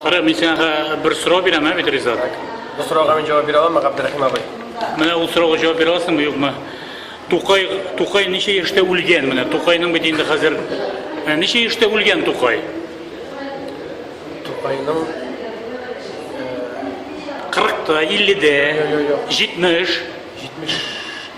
Кара, мин сиңа бер сорау бирәм, ә бит Ризат? Бу сорауга мин җавап бирә аламмы, Габдрахим абый? Менә ул сорауга җавап бирә аласыңмы, юкмы? Тукай, Тукай ничә яшьтә үлгән менә? Тукайның бит инде хәзер ә, ничә яшьтә үлгән Тукай? Тукайның 40-та, 50-дә, 70 70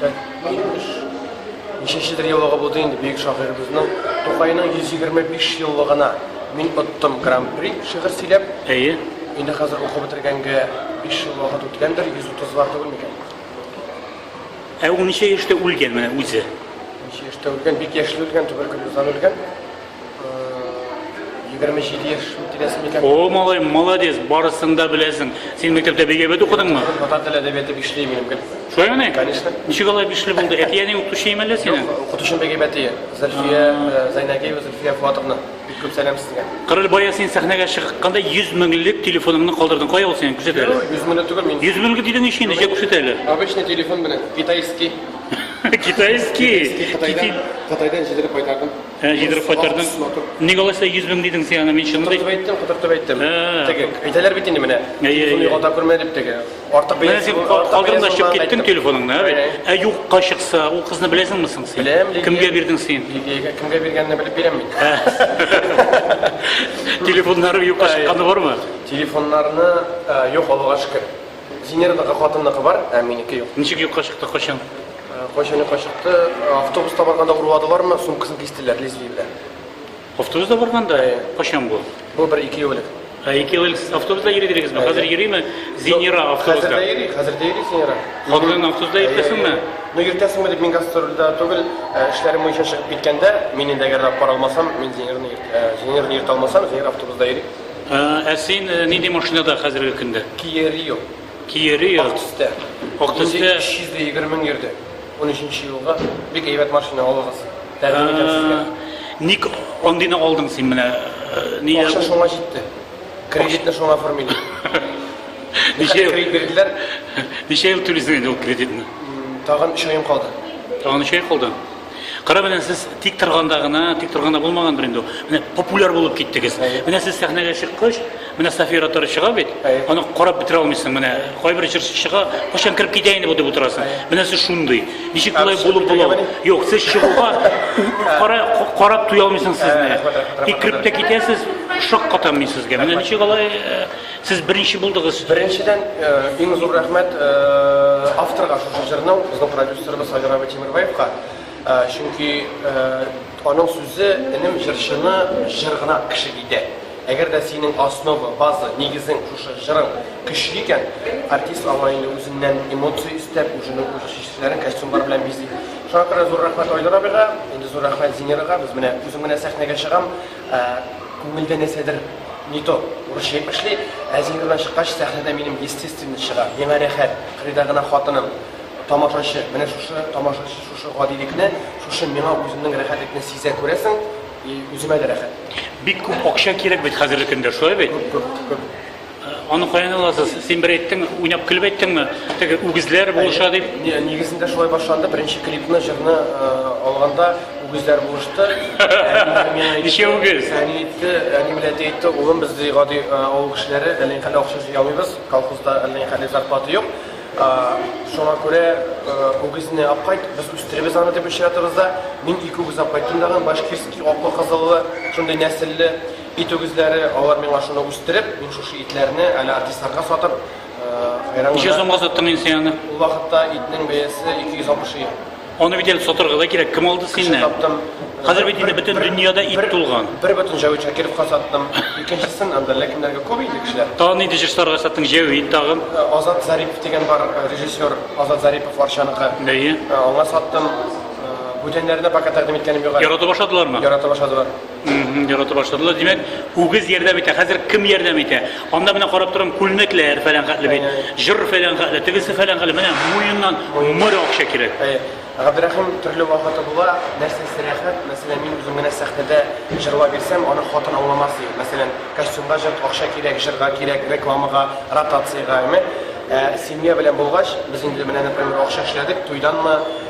тә 70 ничәшедер еллыгы булды инде бөек шагыйребезнең Тукайның 125 еллыгына мин оттым гран-при шигырь сөйләп. Әйе. Инде хәзер укып бетергәнгә 5 ел вакыт үткәндер, 130 лар түгел микән? Ә ул ничә яшьтә үлгән менә үзе? Ничә яшьтә үлгән? Бик яшьли үлгән, туберкулездан үлгән. Егерме җиде яшь тирәсе микән? О, малай, молодец, барысын да беләсең. Син мәктәптә бик әйбәт укыдыңмы? Татар теле әдәбияты бишле имем гел. Шулай мени? Конечно. Ничек алай бишле булды? Әти әни укытучы име әллә синең? Укытучым бик әйбәт ие. Зөлфия э, Зайнагиева Зөлфия Фуатовна. Бик күп сәлам сезгә. Кырыл бая син сәхнәгә чыкканда 100 меңлек телефоныңны калдырдың. Кая ул синең? Күрсәт әле. Йөз меңле түгел мин. 100 меңлек дидең ич инде, җә күрсәт әле. Обычный телефон белән китайский. Китайский. Китайдан, Китайдан җидереп кайтардым. Ә җидереп кайтырдың. Ник алай сәй 100 мең дидең син аны мин чынлы дип. Кутыртып әйттем, кутыртып әйттем. Теге әйтәләр бит инде менә. Телефон югалта күрмә дип теге. Артык бәя. Менә син калдырында чыгып киттең телефоныңны, ә бит. Ә юкка чыкса, ул кызны беләсеңме соң син? Беләм, Лилия. Кемгә бирдең син? Лилиягә кемгә биргәнне белеп бирәм мин. Телефоннары юкка чыкканы бармы? Телефоннарны юк, Аллага шөкер. Зинерныкы, хатынныкы бар, ә минеке юк. Ничек юкка чыкты, кайчан? Кайчаны качыкты, автобус табарга да урладылармы, сумкасын кистеләр лезвие белән. Автобус да барганда, качан бу? Бу бер ике ел элек. Ә ике ел элек автобуста йөридегезме? Хәзер йөриме? Зинира автобуста. Хәзер дә йөри, хәзер дә йөри Зинира. Хатынын автобуста йөртәсеңме? Ну йөртәсеңме дип мин гастрольдә түгел, эшләрем буенча чыгып киткәндә, мин инде әгәр дә пар алмасам, мин Зинирны Зинирны йөртә алмасам, Зинира автобуста йөри. Ә син нинди машинада хәзерге көндә? Кия Рио. Киери йорт. Актөстә. Актөстә. Инде 320 мең йөрде. 13 елга бик әйбәт машина алыгыз. Тәкъдим итәм сезгә. Ник андыйны алдың син менә? Нигә? Акча шуңа җитте. Кредитны шуңа оформили. Ничә ел кредит бирделәр? Ничә ел түлисең инде ул кредитны? Тагын 3 аем калды. Тагын 3 ай калды. Кара белән сез тик торганда гына, тик торганда булмагандыр инде. Менә популяр булып киттегез. Менә сез сәхнәгә чыккач, менә София Тары чыга бит. Аны карап бетерә алмыйсың. Менә кайбер җырчы чыга, кайчан кереп китә инде бу дип утырасың. Менә сез шундый. Ничек болай булып була? Юк, сез чыгуга кара карап туя алмыйсың сезне. Тик кереп тә китәсез, шаккатам мин сезгә. Менә ничек алай э, Сез беренче булдыгыз. Беренчедән, иң зур рәхмәт авторга шушы җырның, безнең продюсерыбыз Айдар абый Тимербаевка. Чөнки аның сүзе, энем, җырчыны җыр гына кеше итә. Әгәр дә синең основа, база, нигезең шушы җырың көчле икән, артист аңа инде үзеннән эмоция өстәп, үзенең үз чишмәләрен костюмнар белән бизи. Шуңа күрә зур рәхмәт Айдар абыйга, инде зур рәхмәт Зинерага. Без менә, үзем менә сәхнәгә чыгам. Ә күңелдә нәрсәдер не то, урысча дип эшли, ә зиһененнән чыккач, сәхнәдә минем естественный чыга, миңа рәхәт, кырыйда гына хатыным, тамашачы, менә шушы тамашачы шушы гадилекне, шушы миңа үземнең рәхәтлекне сизә, күрәсең, и үземә дә рәхәт. Бик күп акча кирәк бит хәзерге көндә, шулай бит? Күп, күп, күп. Аны каян аласыз? Син бер әйттең, уйнап көлеп әйттеңме? Теге үгезләр булыша дип. Не, нигезендә шулай башланды. Беренче клипны, җырны э, алганда үгезләр булышты. Ничә үгез? Әни әйтте, әни белән әти әйтте, улым без ди гади э, авыл кешеләре, әллә никадәр акча җыя алмыйбыз, колхозда әллә никадәр зарплата юк. Э, Шуңа күрә э, үгезне алып кайт, без үстеребез аны дип очратыбыз да. Мин ике үгез алып кайттым дагы, башкирский, аклы кызыллы, шундый нәселле. Ит үгезләре, алар миңа шуны үстереп, мин шушы итләрне әле артистларга сатып, хайран. Ничә сумга саттың инде син аны? Ул вакытта итнең бәясе 260 ел. Аны бит әле сатырга да кирәк. Кем алды синнән? Саттым. Хәзер бит инде бөтен дөньяда ит тулган. Бер бөтен Җәвит Шакировка саттым. Икенчесен анда ләкиннәргә күп инде кешеләр. Тагын нинди җырчыларга саттың? Җәвит тагын. Азат Зарипов дигән бар режиссер, Азат Зарипов Варчаныкы. Бәе? Аңа саттым. Бүтәннәренә пока тәкъдим иткәнем юк әле. Ярата башладылармы? Ярата башладылар. Ярата башладылар. Димәк, үгез ярдәм итә. Хәзер кем ярдәм итә? Анда менә карап торам, күлмәкләр фәлән хәтле бит. Җыр фәлән хәтле, тегесе фәлән хәтле. Менә муеннан моря акча кирәк. Габдрәхим төрле вакыты була. Нәрсәсе рәхәт? Мәсәлән, мин үзем генә сәхнәдә җырлап йөрсәм, аны хатын аңламас ди. Мәсәлән, костюмга җыр, акча кирәк, җырга кирәк, рекламага, ротациягә, әме. Ә семья белән булгач, без инде менә, например, акча эшләдек, туйданмы,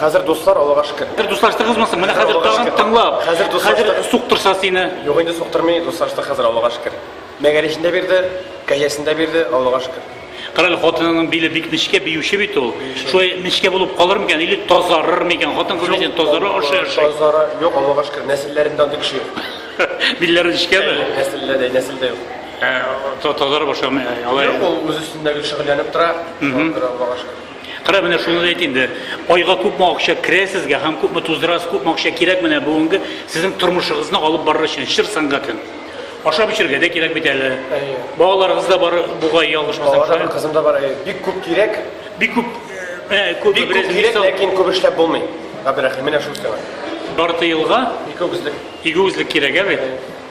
Хәзер дуслар, Аллага шөкер. Бер дуслаштыгызмы соң? Менә хәзер тагын тыңлап. Хәзер дуслаштык. Хәзер суктырса сине. Юк инде суктырмый, дуслаштык хәзер, Аллага шөкер. Мәгәричен дә бирде, кәҗәсен дә бирде, Аллага шөкер. Карале, хатынының биле бик нечкә, биюче бит ул. Шулай нечкә булып калыр микән или тазарыр микән? Хатын кыз дисен тазара ашый ашый. Тазара, юк, Аллага шөкер, нәселләрендә андый кеше юк. Билләре нечкәме? Нәселдә дә, нәселдә юк. Тазара башламый. Юк, ул үз өстендә гел шөгыльләнеп тора. Аллага шөкер. Кара, менә шуны да әйт инде. Айга күпме акча керә сезгә һәм күпме туздырасыз, күпме акча кирәк менә бүгенге сезнең тормышыгызны алып барыр өчен, чыр сәнгатен? Ашап-эчәргә дә кирәк бит әле. Әйе. Балаларыгыз да бар, бугай, ялгышмасам. Балалар һәм кызым да бар, әйе. Бик күп кирәк. Бик күп, э, күп, Бик күп кирәк, ләкин күп эшләп булмый. Габдрәхим, менә шул сиңа. Ярты елга Ике үзлек. ике үзлек кирәк, ә бит?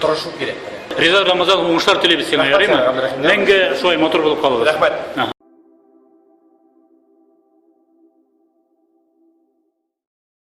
тырышу кирәк. Риза Рамазан уңышлар телибез сиңа, ярыймы? Мәңге шулай матур булып калыгыз. Рәхмәт.